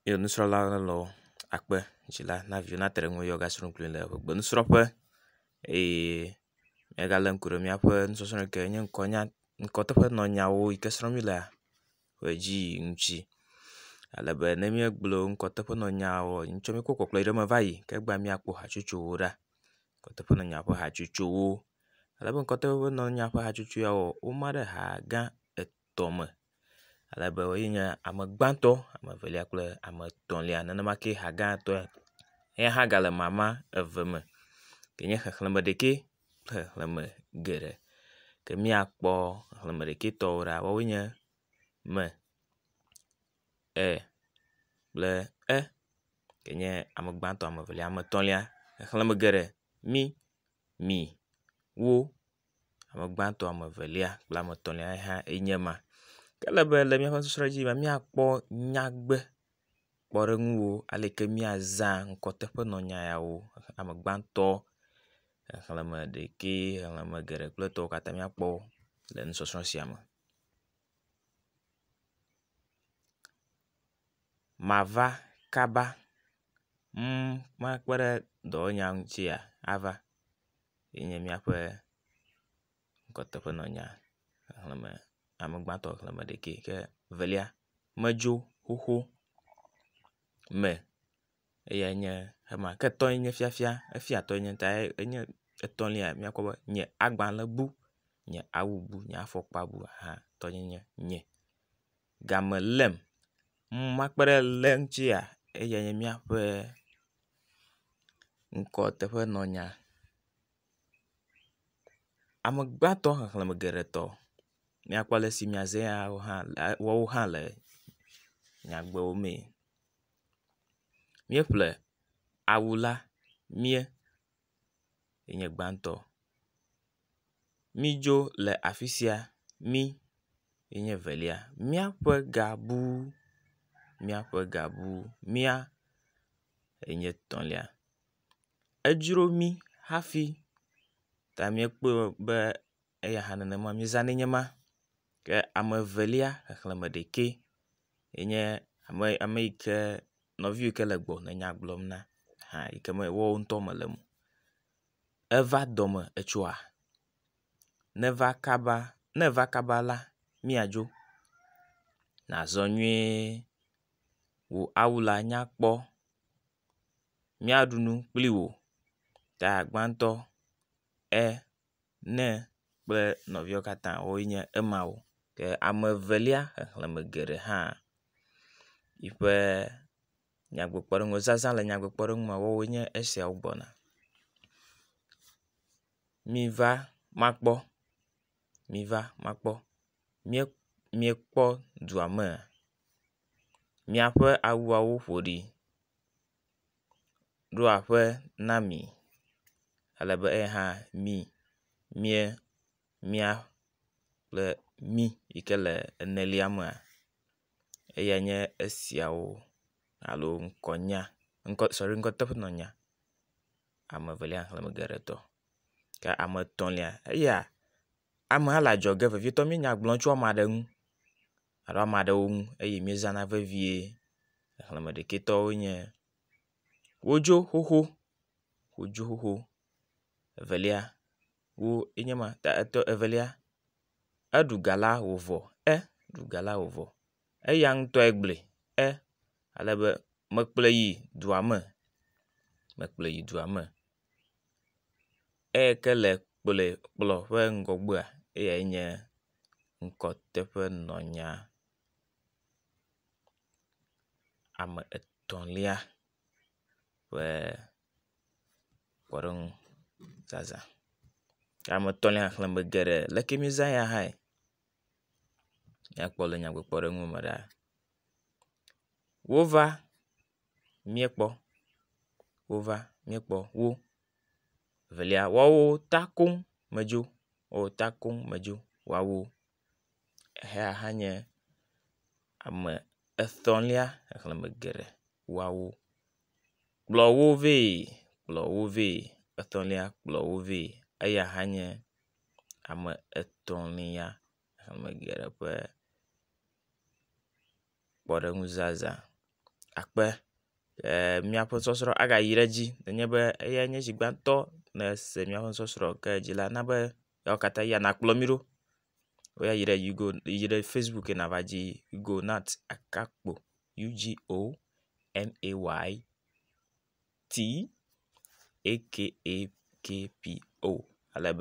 ye nusrɔ̃la aɖe le ekpe dzi la na viawo nate ɖe eŋu eye woasrɔ̃ nu kplii le gbemusrɔ̃ƒe eye míegalé ŋku ɖe míaƒe nusɔsrɔ̃ yi ke nye ŋkɔnya ŋkɔteƒe nɔ nyawo yi ke srɔ̃m mílea ƒe dzi yiyim ŋuti ale be ne míegblɔ ŋkɔteƒe nɔ nyawo ŋuti míkɔ kpɔkplɔ yi ɖe eme va yi ke egbea míakpɔ hatsotsowo ɖa. Ŋkɔteƒe nɔ nya ƒe hatsotsowo. Ale be ŋkɔteƒe nɔ nya ƒe hatsotso yia woma ɖe ha gã et. tɔ me ale be ye nye ame gbãtɔ, ame evelia kple ame etɔ̃lia. Nenema ke ha gã tɔ ya hã gale mama eve me yi nye xexleme ɖekɛ kple xexleme geɖe. Ke míakpɔ xexleme ɖekɛ tɔwo ɖa woawoe nye me, e kple e yi nye ame gbãtɔ, ame evelia, ame etɔ̃lia. Xexleme geɖe mi, mi, wo, Ame gbãtɔ, ame evelia kple ame etɔ̃lia ye hã enye ma. Ke ele be le míaƒe nusɔsrɔ̃ dzi la, míakpɔ nyagbe kpɔɖeŋuwo ale yi ke míazã ŋkɔteƒenɔnya yawo. Ame gbãtɔ, xexleme ɖekɛ, xexleme geɖe kple etɔ̃wo katã míakpɔ wo le nusɔsrɔ̃ sia me. Mava kaba, ŋ, makpe ɖe dɔwɔnya ŋutia ava. ye nye míaƒe nɔnɔnya xexlẽme ame gbãtɔ xexlẽme ɖekɛ ke evelia medzo xoxo me eyae nye ema ke etɔ̃e nye fiafia efia tɔe nye tae enye etɔ̃lia míakpɔ be nye agbalẽ bu nye awu bu nye afɔkpa bu hã tɔnye nye game lém. Nu ma kpe ɖe lé ŋutia eyae nye míaƒe ŋkɔ teƒe nɔ nya. Ame gbãtɔ xexleme geɖe tɔ míakpɔ ale si miaze ya wo hã woawo hã le nyagbewo mee. Míeƒle awu la mía. ye nye gbãtɔ. Mídzo le afi sia, mí ye nye evelia. Míaƒe ga bu, míaƒe ga bu, mía ye nye etɔ̃lia. Edzro mí hafi ta míekpɔe be. eya hã nenema míezãnɛ nye ma. Ke ame evelia xexlẽme ɖekɛ enye ame ame yi ke nɔvi yi ke le gbɔ le nya gblɔm na hã yi ke me woawo ŋutɔ mele o. Eva dɔme etsɔa? Neva kaba ne eva kaba la míadzo. Nazɔ nyuie wò awu la nyakpɔ. Míaɖu nu kpli wò ta gbãtɔ e. ne kple nɔviawo katã wonye emawo ke ame evelia xexleme geɖe hã yi ƒe nyagblɔɖilawo zazã le nyagblɔɖi me woawoe nye esiawo gbɔna. Miva makpɔ miva makpɔ mie miekpɔ dua mea? Miaƒe awuawo ƒo ɖi. ɖo aƒe na mi ale be eya hã mi mia mia kple mi yi ke le enelia mea eya nye esiawo alo ŋkɔnya ŋkɔ sɔri ŋkɔteƒenɔnya ame evelia xexleme geɖe etɔ̃ ke ame etɔ̃lia eya amea le adzɔge vevietɔ míenya gblɔm tso ame aɖe ŋu. alo ame aɖewo ŋu eye míezãna vevie. Xexlẽme ɖekɛtɔwo nye wodzo xoxo, wodzo xoxo. Evelia wo enye ma ta etɔ evelia eɖu ga la wòvɔ e ɖu ga la wòvɔ. Eya ŋutɔe gblɔe e ale be mekplɔe yi dua me mekplɔe yi dua me. Eyi ke le kplɔe kplɔ ƒe ŋgɔgbea eyae nye ŋkɔteƒenɔnya ame etɔ̃lia ƒe kpɔɖeŋu zazã. Ke ame etɔ̃lia xexleme geɖe le ke mizã ya hãe ne ekpɔ le nyagbekpɔɖeŋu me ɖaa. Wova. míekpɔ wova míekpɔ wo. Evelia woawo ta koŋ medzo o ta koŋ medzo woawo. Exea hã nye ame etɔ̃lia xexleme geɖe woawo. Kplɔ wo vɛ kplɔ wo vɛ etɔ̃lia kplɔ wo vɛ eya hã nye ame etɔ̃lia xexleme geɖe ƒe. kpɔɖeŋuzazã akpe eer míaƒe sɔsrɔ̃ agayi ɖe edzi nenye be eyae nye zi gbãtɔ nèse míaƒe sɔsrɔ̃ ke dzi la na be eyawo katã ya nakplɔ mí ɖo be yɛayi ɖe yugo yi ɖe facebook ye nava dzi yugonat gakpo u g o n a y t a k p o ale be.